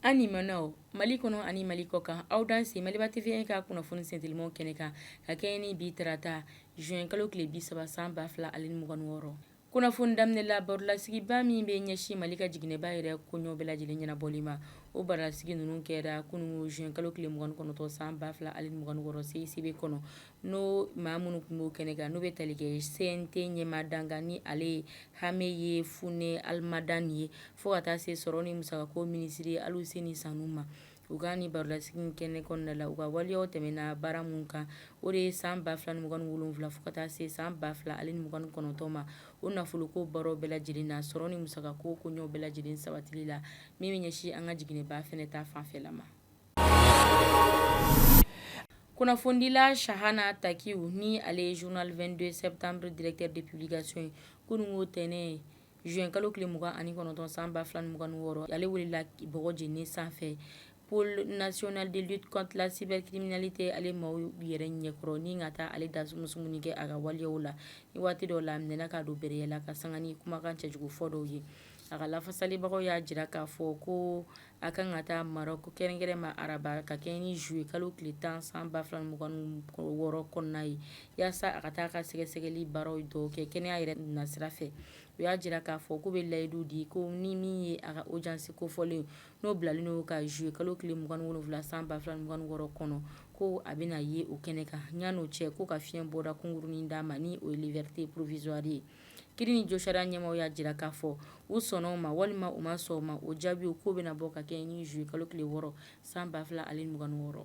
An limanaw mali kɔnɔ ani mali kɔ kan aw danse maliba TV in ka kunnafoni sentilimaw kɛnɛ kan ka kɛɲɛ ni bi tarata juin kalo tile bi saba san ba fila ani mugan ni wɔɔrɔ Kunnafoni daminɛ la barolasigiba min bɛ ɲɛsin mali ka jiginɛba yɛrɛ koɲɛw bɛɛ lajɛlen ɲɛnabɔli ma o barolasigi ninnu kɛra kunungo juin kalo tile mugan ni kɔnɔntɔn san ba fila ani mugan ni wɔɔrɔ CICB kɔnɔ n'o maa minnu tun b'o kɛnɛ kan n'o bɛ tali kɛ CNT ɲɛmaa dankan ni ale ye hameye funɛ mahalmadane ye fo ka taa se sɔrɔ ni musakako minisiri aluseni sanu ma U ka nin barolasigi kɛnɛ kɔnɔna la u ka waleyaw tɛmɛna baara minnu kan o de ye san ba fila ni mugan ni wolonwula fo ka taa se san ba fila ani mugan ni kɔnɔntɔn ma o nafoloko baaraw bɛɛ lajɛlen na sɔrɔ ni musakako koɲɛw bɛɛ lajɛlen sabatili la min bɛ ɲɛsin an ka jiginɛba fana ta fanfɛla ma kunnafonidila chahana takiou ni ale ye journal 22 septembre directeur de publication ye kunungo ntɛnɛn Juin kalo tile mugan ani kɔnɔntɔn san ba fila ni mugan ni wɔɔrɔ ale welela bɔgɔ jeni sanfɛ pôle national de lutte contre la cybercriminalité ale maaw yɛrɛ ɲɛkɔrɔ ni ka taa ale dasumusumuni kɛ a ka waleyaw la ni waati dɔ la a minɛna k'a don bereya la ka sanga ni kumakan cɛjugu fɔ dɔw ye a ka lafasalibagaw y'a jira k'a fɔ ko A kan ka taa marɔku kɛrɛnkɛrɛn ma araba ka kɛɲɛ ni juillet kalo tile tan san ba fila ni mugan wɔɔrɔ kɔnɔna ye yaasa a ka taa a ka sɛgɛsɛgɛli baaraw dɔw kɛ kɛnɛya yɛrɛ nasira fɛ u y'a jira k'a fɔ k'u bɛ layidu di ko ni min ye a ka audience kofɔlen n'o bilalen don ka juillet kalo tile 27 san ba fila ni mugan wɔɔrɔ kɔnɔ ko a bɛna ye o kɛnɛ kan ɲan'o cɛ k'u ka fiɲɛbɔda kunkurunnin d'a ma ni o ye liberté provisoire ye Kiri ni josariya ɲɛmaw y'a jira k'a fɔ u sɔnna o ma walima u ma sɔn o ma o jaabiw k'u bɛna bɔ ka kɛɲɛ ni juillet kalo tile wɔɔrɔ san ba fila ani mugan ni wɔɔrɔ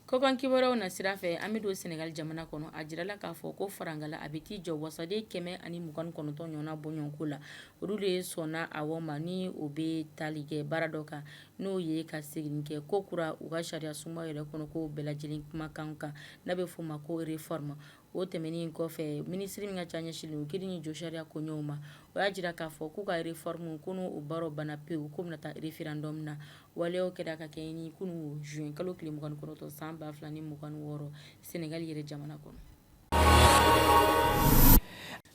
kɔkan kibaruyaw nasira fɛ an bɛ don sɛnɛgali jamana kɔnɔ a jirala k'a fɔ ko farankala a bɛ t'i jɔ wasaden kɛmɛ ani mugan kɔnɔntɔn ɲɔgɔnna bɔɲɔgɔnko la olu de ye sɔnna a ma ni o bɛ tali kɛ baara dɔ kan n'o ye ka seginni kɛ ko kura u ka sariya sunba yɛrɛ kɔnɔ ko bɛɛ lajɛlen kumakan kan n'a bɛ f'o ma ko réforme o tɛmɛnen in kɔfɛ minisiri min ka ca ɲɛsinlen don kiri ni josariya koɲɛw ma o y'a jira k'a fɔ k'u ka réforme ko n'o baaraw banna pewu ko bɛna taa référendum na waleyaw kɛra ka kɛɲɛ ni kunungo juin kalo tile mugan ni kɔnɔntɔn san ba fila ni mugan wɔɔrɔ sɛnɛgali yɛrɛ jamana kɔnɔ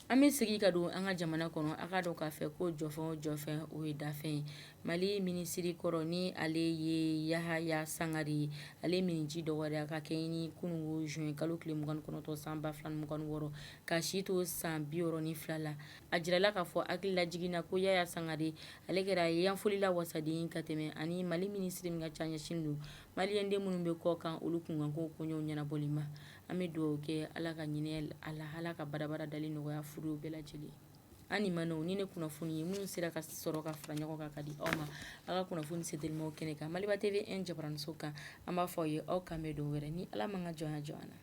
An bɛ segin ka don an ka jamana kɔnɔ aw k'a dɔn k'a fɔ ko jɔfɛn o jɔfɛn o ye dafɛn ye mali minisiri kɔrɔ ni ale ye yahaya sangare ye ale minniji dɔgɔyara ka kɛɲɛ ni kunun ko zuwɛn kalo tile mugan ni kɔnɔntɔn san ba fila ni mugan ni wɔɔrɔ k'a si to san biwɔɔrɔ ni fila la a jirala k'a fɔ hakililajigin na ko yaya sangare ale kɛra yanfolila wasaden ka tɛmɛ ani mali minisiri min ka ca ɲɛsin don maliyɛnden minnu bɛ kɔkan olu kunkanko koɲɛw ɲɛnabɔli ma an bɛ dugawu kɛ ala ka hinɛ a la ala ka badabada dali nɔgɔya furew bɛɛ lajɛlen an ni ma o ni ne kunnafoni ye minnu sera ka sɔrɔ ka fara ɲɔgɔn kan ka di aw ma aw ka kunnafoni setelimanw kɛnɛ kan maliba TV jabaraninso kan an b'a fɔ aw ye aw k'an bɛn don wɛrɛ ni ala m'an ka jɔnya jɔ an na